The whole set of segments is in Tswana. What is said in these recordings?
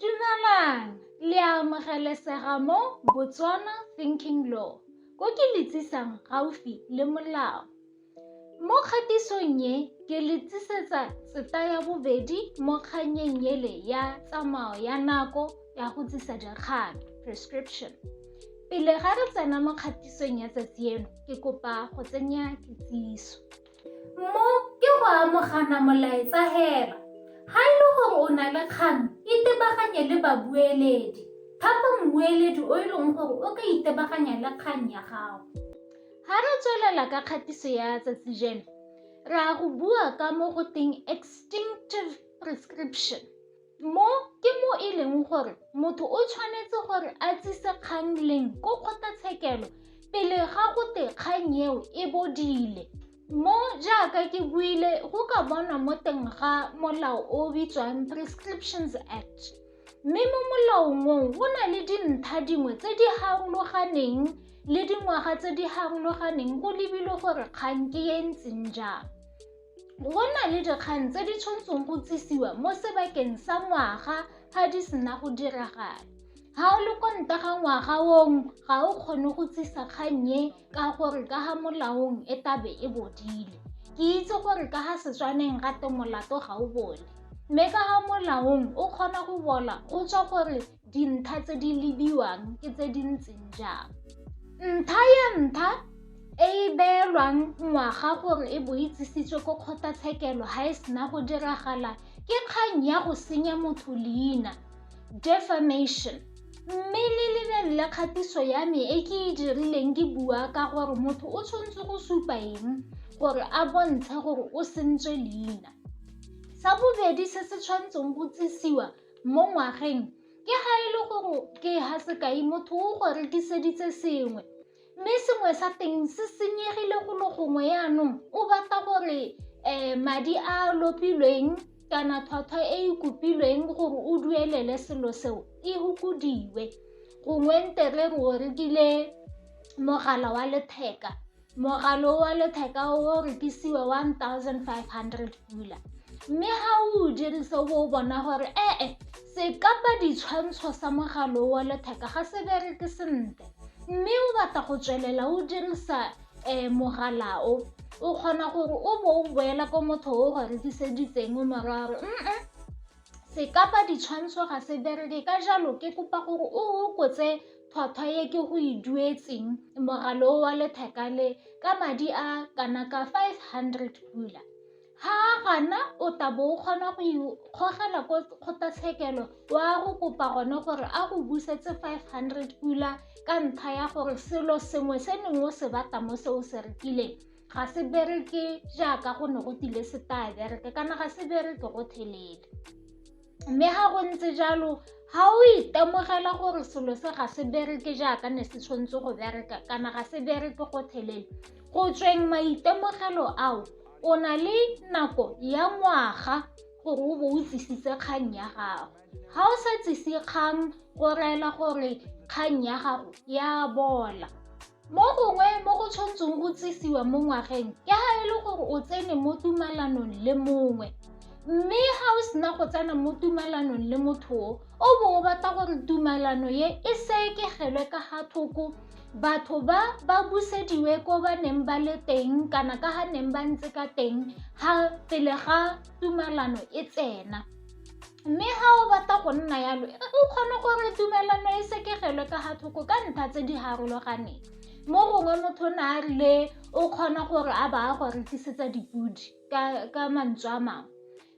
Dumelang, le a amogelesega mo Botswana Thinking Law, ko ke le tsisang gaufi le molao. Mo kgatisong e, ke le tsisetsa tseta ya bobedi mo kganyeng ele ya tsamao ya nako ya go tsisa dikgang, prescription. Pele ga re tsena mo kgatisong ya tsatsi eno, ke kopa go tsenya kitsiso. Mo ke go amogana molaetsa hela. Ga e le gore o na le kgang, itebaganye le babueledi. Thapa mmueledi o e leng gore o ka itebaganya le kgang ya gago. Ga re tswelela ka kgatiso ya tsatsi jeno, re a go bua ka mo go teng extinctive prescription. Mo ke mo e leng gore motho o tshwanetse gore a tsise kgang leng ko kgotlatshekelo pele ga go te kgang eo e bodile. Mo jaaka ke buile go ka bonwa mo teng ga molao o o bitswang Prescriptions Act. Mme mo molaong oo go na le dintlha dingwe tse di harologaneng le dingwaga tse di harologaneng go lebilwe gore kgang ke e ntseng jang. Go na le dikgang tse di tshwantseng go tsisiwa mo sebakeng sa ngwaga ga di sena go diragala. Ga o le kwa nta ga ngwaga ong ga o kgone go tsisa kgang e ka gore ka ga molaong e tabe e bodile. Ke itse gore ka ga Setswaneng ga te molato ga o bole. Mme ka ga molaong o kgona go bola go tswa gore Dintlha tse di lebiwang ke tse di ntseng jang? Ntlha ya ntlha e e beelwang ngwaga gore e bo itsisitswe ko kgotlatshekelo ga e sena go diragala ke kgang ya go senya motho leina, defamation. Mme le lebelele kgatiso ya me e ke e dirileng ke bua ka gore motho o tshwanetse go supa eng gore a bontshe gore o sentswe leina. Sa bobedi se se tshwanetseng go tsisiwa mo ngwageng ke ga e le gore ke ha sekai motho o go rekiseditse sengwe mme sengwe sa teng se senyegile go lo gongwe yaanong o batla gore um madi a lopilweng kana tlhwatlhwa e e kopilweng gore o duelele selo seo e fokodiwe gongwe nte re re o rekile mogala wa letheka Mogala o wa letheka o o rekisiwa R1500, mme ga o o dirisa o bo o bona gore ee sekapa-ditshwantsho sa mogala o wa letheka ga se bereke sentle mme o batla go tswelela o dirisa um mogala o, o kgona gore o bo o boela ko motho o go rekiseditseng o mo raya gore . Sekapa ditshwantsho ga se bereke ka jalo ke kopa gore o hokotse tlhwatlhwa e ke go e duetseng mogala o wa letheka le ka madi a kana ka five hundred pula. Ha a gana o tla bo o kgona go ikgogela ko kgotlatshekelo o a go kopa gone gore a go busetse five hundred pula ka ntlha ya gore selo sengwe se neng o se batla mo se o se rekileng. ga se bereke jaaka go ne go tile se taya bereke kana ga se bereke go thelele mme ga go ntse jalo ga o itemogela gore selo se ga se bereke jaaka ne se tshwanetse go bereka kana ga se bereke go thelele go tsweng maitemogelo ao o na le nako ya ngwaga gore o bo o tsisitse kgang ya gago ga o sa tsise kgang go rela gore kgang ya gago ya bola Mo gongwe mo go tshwantseng go tsisiwa mo ngwageng ke ga e le gore o tsene mo tumalanong le mongwe mme ga o sena go tsena mo tumalanong le motho o o bo o batla gore tumalano ye e sekegelwe ka ga thoko batho ba ba busediwe ko ba neng ba le teng kana ka ga neng ba ntse ka teng ga pele ga tumalano e tsena. Mme ga o batla go nna yalo, o kgone gore tumelano e sekegelwe ka ga thoko ka ntlha tse di harologaneng. Mo gongwe motho na a rile o kgona gore a ba a go rekisetsa dipodi ka mantswe a mangwe.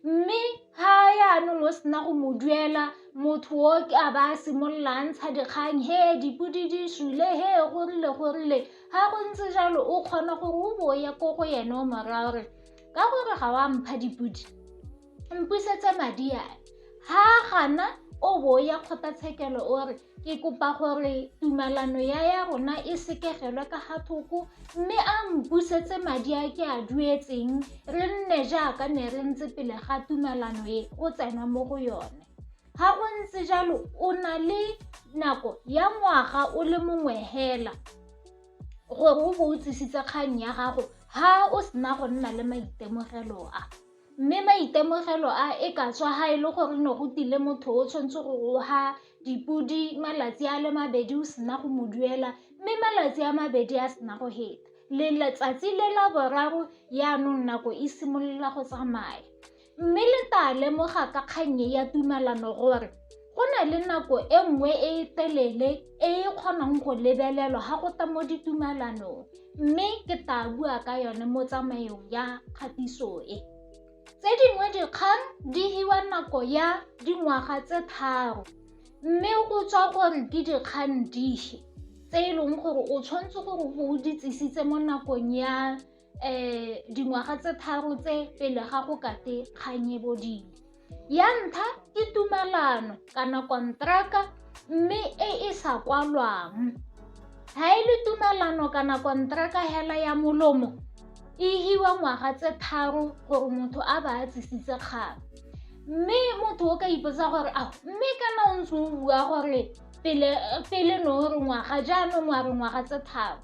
Mme ga yanong o sena go mo duela motho o a ba a simolola a ntsha dikgang, he dipodi di sule, he go rile go rile. Ga go ntse jalo o kgona gore o bo o ye ko go ene o mo raya gore ka gore ga wa mpha dipodi. mpusetsa madi a ha gana o bo ya kgotlatshekelo o re ke kopa gore tumalano ya ya rona e sekegelwe ka ga thoko mme a mpusetse madi a ke a duetseng re nne jaaka ne re ntse pele ga tumalano e o tsena mo go yone ga go ntse jalo o na le nako ya ngwaga o le mongwe hela gore o bo o tsisitse kgang ya gago ha o sena go nna le maitemogelo a Mme maitemogelo a e ka tswa ga e le gore ne go tile motho o tshwanetse go goga dipodi malatsi a le mabedi o sena go mo duela mme malatsi a mabedi a sena go heta le letsatsi le la boraro yaanong nako e simolola go tsamaya mme le tla lemoga ka kgannye ya tumalano gore Go na le nako e nngwe e e telele e e kgonang go lebelelwa ga go tla mo ditumalanong mme ke tla bua ka yone mo tsamaeong ya kgatiso e. Tse dingwe dikgang di hiwa nako ya dingwaga tse tharo mme go tswa gore ke dikgang dife tse e leng gore o tshwanetse gore o di tsisitse mo nakong ya um dingwaga tse tharo tse pele ga go kate kgang e bodile ya ntlha ke tumalano kana kontraka mme e e sa kwalwang ga e le tumalano kana kontraka hela ya molomo e hiwa ngwaga tse tharo gore motho a ba a tsisitse kgang mme motho o ka ipotsa gore a mme kana o ntse o bua gore pele no re ngwaga jaanong wa re ngwaga tse tharo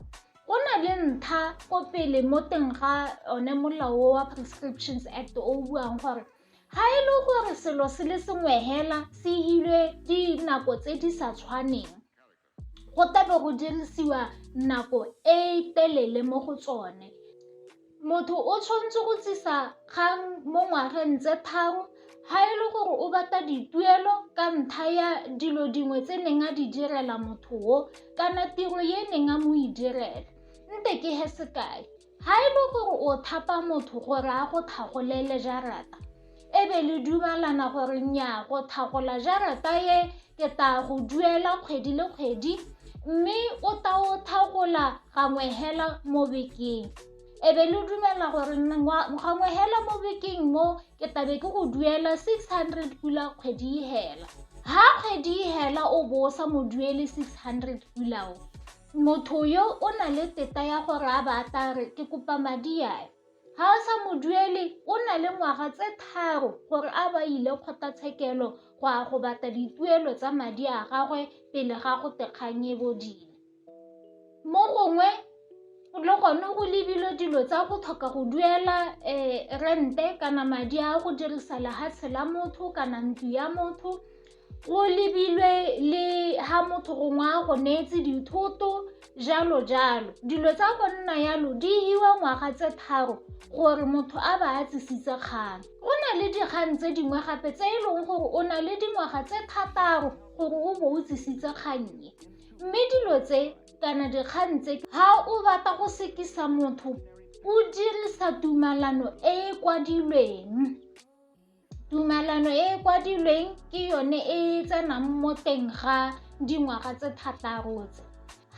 go na le ntlha ko pele mo teng ga one molao wa prescriptions act o buang gore ga e le gore selo se le sengwe hela se hilwe dinako tse di sa tshwaneng go tabe go dirisiwa nako e telele mo go tsone Motho o tshwanetse go tlisa kgang mo ngwageng tse tharo ga e le gore o batla dituelo ka ntlha ya dilo dingwe tse neng a di direla motho o kana tiro e neng a mo e direla. Nte ke he sekai, ga e le gore o thapa motho gore a go tlhagolele jarata, e be le dumalana gore nnyaa go thagola jarata e ke ta go duela kgwedi le kgwedi mme o ta o thagola gangwe hela mo bekeng e be le dumela gore gangwe hela mo bekeng mo ke tabe ke go duela six hundred pula kgwedi e hela ha kgwedi e hela o bo o sa mo duele six hundred pulao motho yo o na le teta ya gore a ba a tla re ke kopa madi ae Ga a sa moduele o na le ngwaga tse tharo gore a ba ile kgotlatshekelo go a go batla dituelo tsa madi a gagwe pele ga go te kgang e bodile. Mo gongwe le gone go lebilwe dilo tsa go tlhoka go duela rente kana madi a go dirisa lehatshe la motho kana ntlo ya motho Go lebilwe le ha motho gongwe a go neetse dithoto jalo jalo dilo tsa go nna yalo di hiwa ngwaga tse tharo gore motho a ba a tsisitse kgang go na le dikgang tse dingwe gape tse e leng gore o na le dingwaga tse thataro gore o bo o tsisitse kgannye mme dilo tse kana dikgang tse ha o batla go sekisa motho o dirisa tumalano e e kwadilweng Tumalano e e kwadilweng ke yone e e tsenang mo teng ga dingwaga tse thataro tse.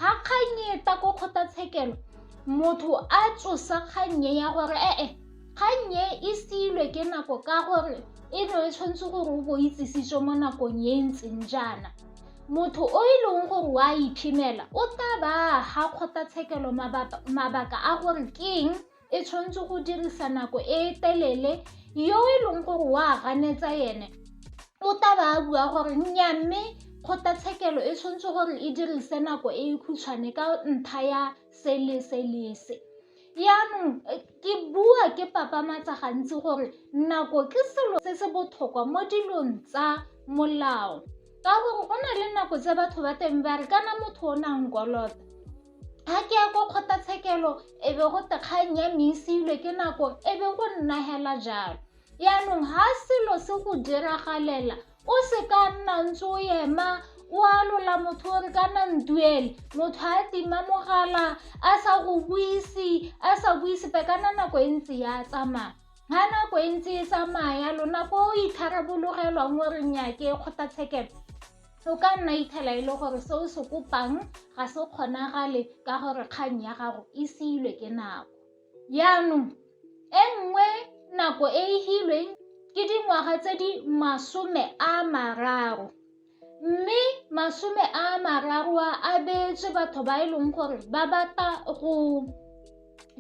Ga kgang e ta ko kgotlatshekelo motho a tsosa kgannye ya gore ee kgannye e siilwe ke nako ka gore e ne e tshwanetse gore o bo itsisitswe mo nakong e ntseng jaana motho o e leng gore wa iphemela o tla ba ga kgotlatshekelo mabaka a gore ke eng e tshwanetse go dirisa nako e telele yo e leng gore wa ganetsa ene o taba a bua gore nya mme kgotlatshekelo e tshwanetse gore e dirise nako e e khutshwane ka ntlha ya se le se le se yaanong ke bua ke papamatsa gantsi gore nako ke selo se se botlhokwa mo dilong tsa molao ka gore go na le nako tse batho ba teng ba re kana motho o nang kolota ga ke ya kwa kgotlatshekelo e be go tekgang ya meisilwe ke nako e be go nna hela jalo yaanong ga selo se go diragalela o se ka nna ntse o ema o alola motho o re kana ntuele motho a tima mogala a sa go buise a sa buise pe kana nako e ntse ya tsamaya ga nako e ntse e tsamaya lona ko o itharabologelwang o reng ya ke kgotlatshekelo O ka nna ithela e le gore se o se kopang ga se kgonagale ka gore kgang ya gago e seilwe ke nako. Yaanong e nngwe nako e e hilweng ke dingwaga tse di masome a mararo mme masome a mararo a a beetswe batho ba e leng gore ba batla go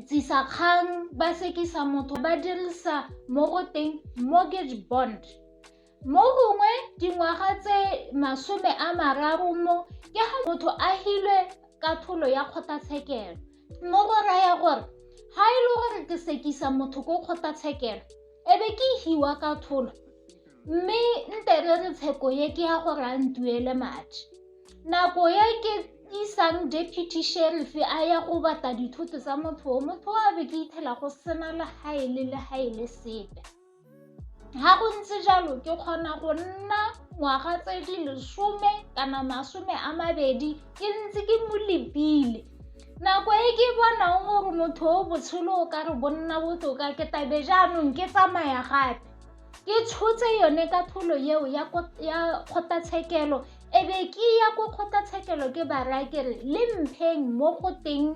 tsisa kgang ba sekisa motho ba dirisa mo go teng mortgage bond Mo gongwe dingwaga tse masome a mararo mo ke ga motho a hilwe ka tholo ya kgotlatshekelo mo go raya gore ga e le gore ke sekisa motho ko kgotlatshekelo e be ke hiwa ka tholo mme nte re re tsheko ye ke ya gore a ntuele madi nako ye ke isang deputy sheriff a ya go batla dithoto tsa motho o motho a be ke ithela go sena le ga e le le ga e le sepe Ga go ntse jalo ke kgona go nna ngwaga tse di lesome kana masome a mabedi ke ntse ke mo lepile nako e ke bonang gore motho o botshelo o ka re bonna botoka ke tabe jaanong ke tsamaya gape ke tshotse yone ka tholo eo ya kgotlatshekelo e be ke ya ko kgotlatshekelo ke ba raya kere le mpheng mo go teng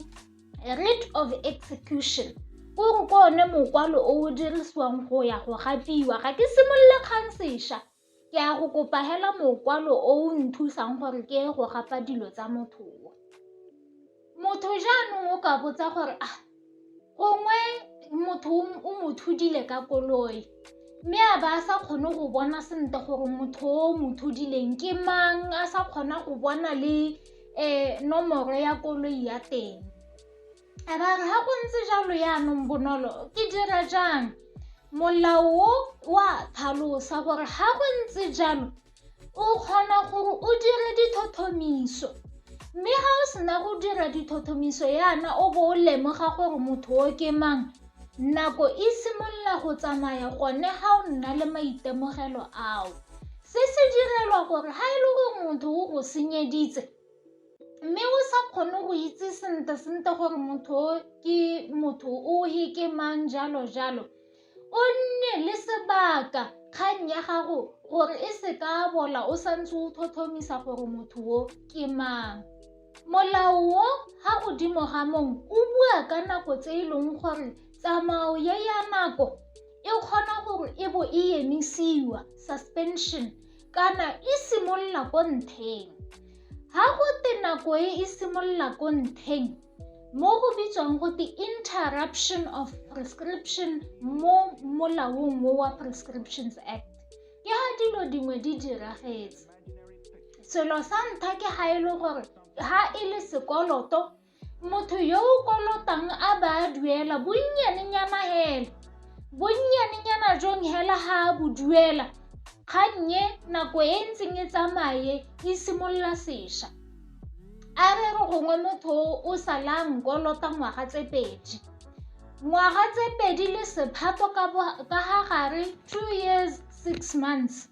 writ of execution o re ke one mokwalo o o dirisiwang go ya go gapiwa ga ke simolole kgang sešwa ke ya go kopa hela mokwalo o o nthusang gore ke ye go gapa dilo tsa motho o motho jaanong o ka botsa gore a ah, gongwe motho o mo thudile ka koloi mme a ba a sa kgone go bona sentle gore motho o mo thudileng ke mang a sa kgona go bona le e nomoro ya koloi ya teng a ba re ga go ntse jalo yaanong bonolo ke dira jang molao wa tlhalosa gore ga go ntse jalo o kgona gore o dire dithothomiso mme ga o sena go dira dithothomiso yana o bo o lemoga gore motho o ke mang Nako e simolola go tsamaya gone ga o nna le maitemogelo ao. Se se direlwa gore ga e le gore motho o go senyeditse mme o sa kgone go itse sentle-sentle gore motho o ke motho o he ke mang jalo-jalo, o nne le sebaka kgang ya gago gore e se ka bola o sa ntse o tlhotlhomisa gore motho o ke mang. Molao o ha godimo ga mong o bua ka nako tse e leng gore tsamao ye ya nako e kgona gore e bo e emisiwa suspension kana e simolola ko ntheng ha go te nako e e simolola ko ntheng mo go bitswang go te interruption of prescription mo molaong wa prescriptions act ke ha dilo dingwe di diragetse selo sa ntlha ke ga e le gore ga e le sekoloto motho yo o kolotang a ba a duela bonnyanenyana hela bonnyanenyana jong hela ga a bo duela kgannye nako e ntseng e tsamaye e simolola sešwa a re re gongwe motho o salang kolota ngwaga tse pedi ngwaga tse pedi le sephato ka ga gare two years six months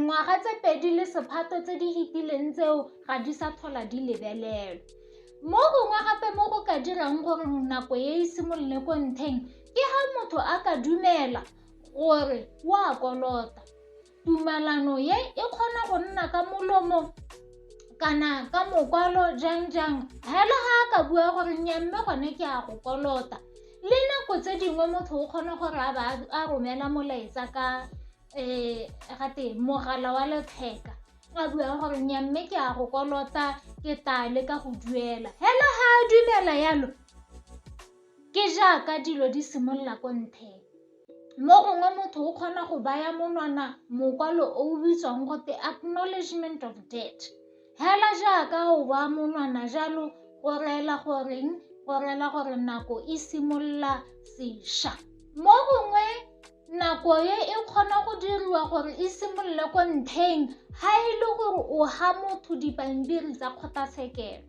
Ngwaga tse pedi le sephato tse di fetileng tseo ga di sa tlhola di lebelelwa. Mo gongwe gape mo go ka dirang gore nako e e simolole ko ntlheng ke ha motho a ka dumela gore o a kolota. Tumalano e e kgona go nna ka molomo kana ka mokwalo jang jang, fela ga a ka bua gore nnyaa mme gone ke a go kolota. Le nako tse dingwe motho o kgona gore a ba a romela molaetsa ka um ga twe mogala wa letheka a bua gore nya mme ke a go kolota ke taa le ka go duela hela ga a dumela yalo ke jaaka dilo di simolola ko ntheng mo gongwe motho o kgona go baya monwana mokwalo o o bitswang gote acknowledgement of debt. Hela jaaka o ba monwana jalo go reela goreng go reela gore nako e simolola sesha mo gongwe nako e e kgona go diriwa gore e simolole ko ntlheng ga e le gore o ga motho dipampiri tsa kgotlatshekelo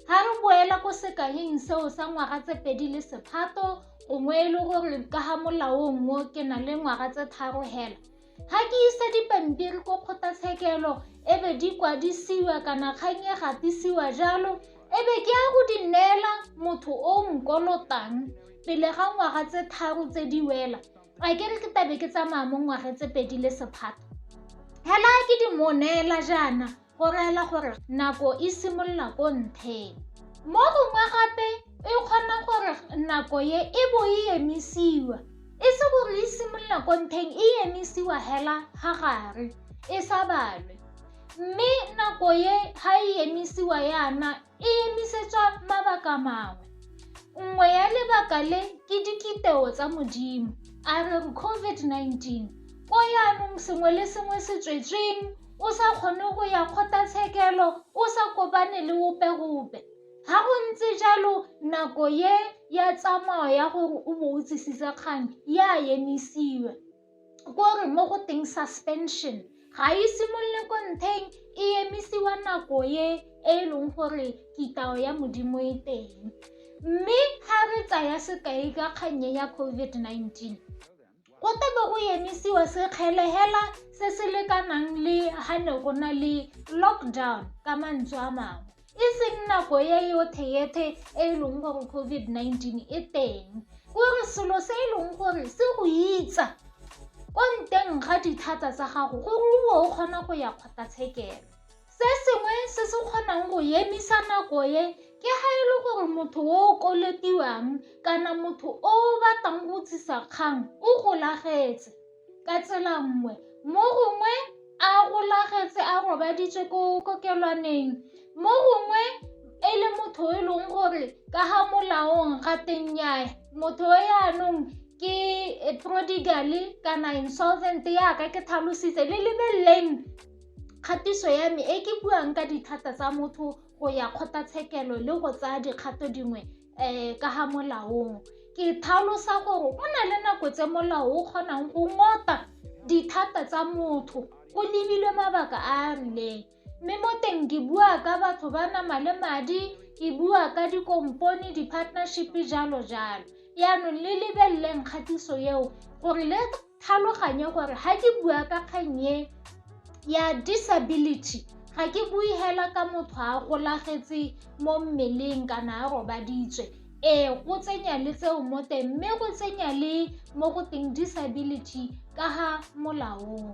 ga re boela ko sekanyeng seo sa ngwaga tse pedi le sephato gongwe e le gore ka ga molaong o ke na le ngwaga tse tharo hela ga ke isa dipampiri ko kgotlatshekelo e be di kwadisiwa kana kgang e gatisiwa jalo e be ke ya go di neela motho o o nkolotang pele ga ngwaga tse tharo tse di wela a ke re ke tabe ke tsamaya mo ngwagetse pedi le sephato hela ke di mo neela jaana go reela gore nako e simolola ko ntheng mo gongwe gape e kgona gore nako ye e bo e emisiwa e se gore e simolola ko ntheng e emisiwa hela ga gare e sa balwe mme nako ye ga e emisiwa yana e emisetswa mabaka mangwe. Nngwe ya lebaka le ke dikiteo tsa Modimo, a re COVID-19 ko yaanong sengwe le sengwe se tswetsweng o sa kgone go ya kgotlatshekelo o sa kopane le ope-ope ga go ntse jalo nako ye ya tsamao ya gore o bo o tsisitse kgang ya emisiwa ko re mo go teng suspension ga e simolole ko ntheng e emisiwa nako e e leng gore kitao ya modimo e teng mme ga re tsaya sekai ka kgannye ya covid-19 go tebe go emisiwa sekgelehela se se lekanang le ga ne go na le lockdown ka mantswe a mangwe e seng nako ya yotheyethe e e leng gore covid-19 e teng gore selo se e leng gore se go itsa ko nteng ga dithata tsa gago gore o o kgona go ya kgotlatshekelo se sengwe se se kgonang go emisa nako e ke ga e le gore motho o o koletiwang kana motho o o batlang go tsisa kgang o golagetse Ka tsela nngwe, mo gongwe a golagetse a robaditswe ko kokelwaneng mo gongwe e le motho e leng gore ka ga molaong ga teng nyae motho o yaanong ke prodigal kana insolvent yaka ke tlhalositse le lebeleleng kgatiso ya me e ke buang ka dithata tsa motho go ya kgotlatshekelo le go tsaya dikgato dingwe um ka ga molaong ke tlhalosa gore go na le nako tse molao o kgonang go ngota dithata tsa motho go lebilwe mabaka a a rileng mme mo teng ke bua ka batho ba nama le madi ke bua ka dikompone di-partnership jalo jalo yaanong le lebeleleng kgatiso eo gore le tlhaloganye gore ga ke bua ka kgang e ya disability ga ke bue hela ka motho a golagetse mo mmeleng kana a robaditswe ee go tsenya le tseo mo teng mme go tsenya le mo go teng disability ka ga molaong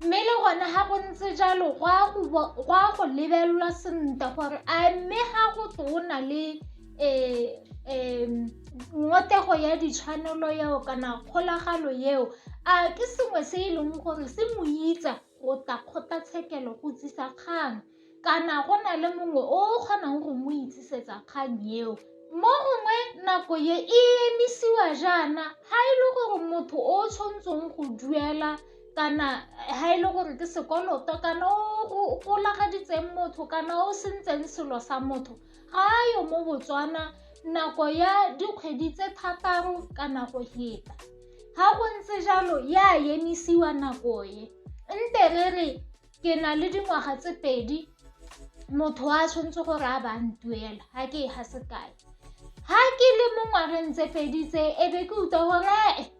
mme le gone ga go ntse jalo go a go lebelelwa sentle gore a mme ga go tona le um ngotego ya ditshwanelo eo kana kgolagalo eo a ke sengwe se e leng gore se mo itsa go tla kgotlatshekelo go tsisa kgang kana go na le mongwe o o kgonang go mo itsisetsa kgang eo mo gongwe nako ye e emisiwa jaana ga e le gore motho o tshwanetseng go duela kana ga e le gore ke sekoloto kana o golagaditseng motho kana o sentseng selo sa motho ga a yo mo botswana nako ya dikgwedi tse thataro kana go heta ga go ntse jalo ya emisiwa nako e nte re re ke na le dingwaga tse pedi motho a tshwanetse gore a ba ntuela ga ke e ga sekae ga ke le mo ngwageng tse pedi tse e be ke utlwa gore ee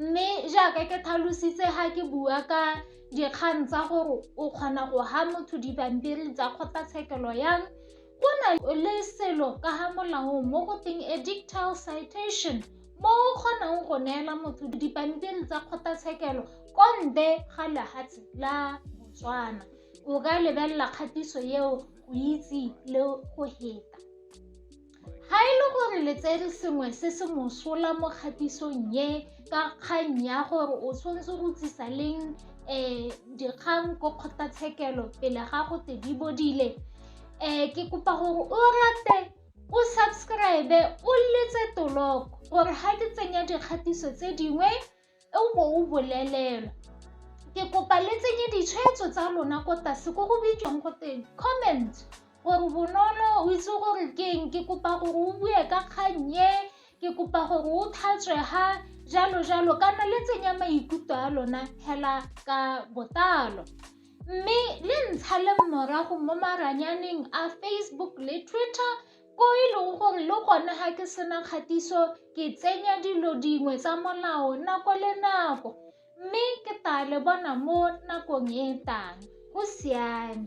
Mme jaaka ke tlhalositse ga ke bua ka dikgang tsa gore o kgona go ha motho dipampiri tsa kgotlatshekelo yang go na le selo ka ga molao mo go teng a dictal citation mo o kgonang go neela motho dipampiri tsa kgotlatshekelo ko ntle ga lehatshe la botswana o ka lebelela kgatiso eo go itse le go heta Ga e le gore le tsere sengwe se se mosola mo kgatisong e ka kgang ya gore o tshwanetse go tsisa leng um dikgang ko kgotlatshekelo pele ga go te di bodile um ke kopa gore o rate o subscribe o letse toloko gore ga ke tsenya dikgatiso tse dingwe o bo o bolelelwa ke kopa le tsenye ditshwetso tsa lona ko tlase ko go bitswang go teng comment gore bonolo o itse gore ke eng ke kopa gore o bue ka kgang e ke kopa gore o tlhatswe ha jalo jalo kana le tsenya maikutlo a lona hela ka botalo mme le ntsha le morago mo maranyaneng a facebook le twitter ko e leng gore le gone ga ke sena kgatiso ke tsenya dilo dingwe tsa molao nako le nako mme ke tla le bona mo nakong e tang go siame